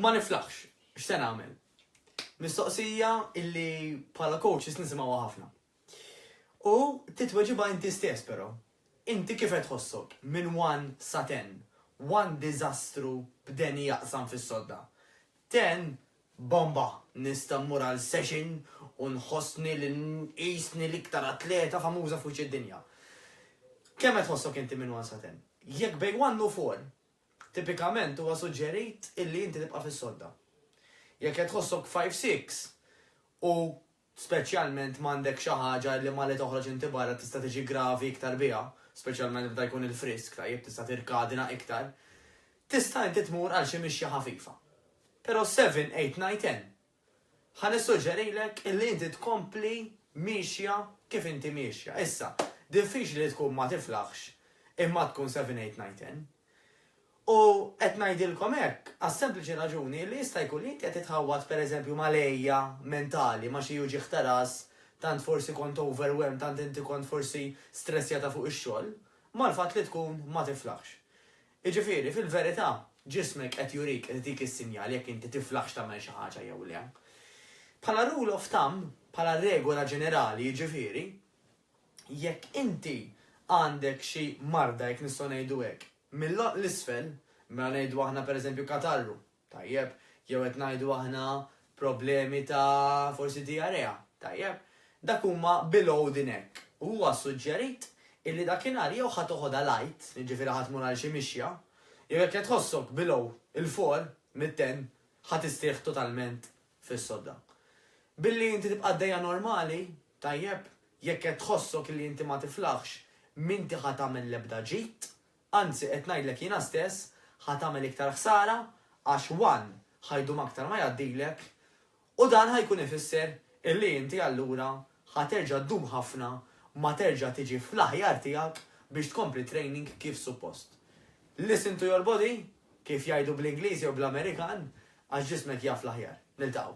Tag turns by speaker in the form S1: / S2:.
S1: Ma niflaħx, x'se nagħmel? Mistoqsija illi bħala coaches nisimgħuha ħafna. U titweġibha inti stess però. Inti kif qed tħossok minn one sa ten? One diżastru b'Danny jaqsam fis-sodda. Ten bomba, nista' mmur għal session u nħossni li nqisni l-iktar atleta famuża fuċ id-dinja. Kemm qed tħossok inti minn one sa ten? Jekk bejn one u four Tipikament huwa suġġerit illi inti tibqa' fis-sodda. Jekk qed tħossok five six u speċjalment m'għandek xi ħaġa illi malli toħroġ inti barra tista' tiġi gravi iktar biha, speċjalment meta jkun il-frisk tajjeb tista' tirkadina iktar, tista' inti tmur għal xi mixja ħafifa. Però seven, eight, nine, ten Ħa nissuġġerilek illi inti tkompli miexja kif inti miexja. Issa, diffiċli li tkun ma tiflaħx imma tkun seven eight nine ten. U qed ngħidilkom hekk għas-sempliċi raġuni illi jista' jkun li inti qed titħawwad pereżempju mal-għejja mentali, ma' xi uġigħ ta' ras, tant forsi kont overwhelmed, tant inti kont forsi stressjata fuq ix-xogħol, mal-fatt li tkun ma tiflaħx. Jiġifieri, fil-verità, ġismek qed jurik, qed itik is-sinjal jekk inti tiflaħx tagħmel xi ħaġa jew le. Bħala rule of thumb, bħala regola ġenerali jiġifieri, jekk inti għandek xi marda, jekk nistgħu ngħidu hekk, mill-għonq 'l isfel, mela ngħidu aħna pereżempju katarru, Tajjeb, jew qed ngħidu aħna problemi ta' forsi diarrea. Tajjeb. Dak huma below the neck. U huwa ssuġġerit illi dakinhar jew ħa toħodha light, jiġifieri ħa tmur għal xi mixja, jew jekk qed tħossok below, 'il fuq, mit-ten, ħa tistrieħ totalment fis-sodda. Billi inti tibqa' għaddejja normali, tajjeb, jekk qed tħossok illi inti ma tiflaħx, m'inti ħa tagħmel l-ebda ġid, Anzi qed ngħidlek jiena stess ħa tagħmel iktar ħsara għax one ħa jdum aktar ma jgħaddilek u dan ħa jkun ifisser illi inti allura ħa terġa' ddum ħafna ma terġa' tiġi fl-aħjar tiegħek biex tkompli training kif suppost. Listen to your body kif jgħidu bl-Ingliż jew bl-Amerikan għax ġismek jaf l-aħjar. Niltaqgħu.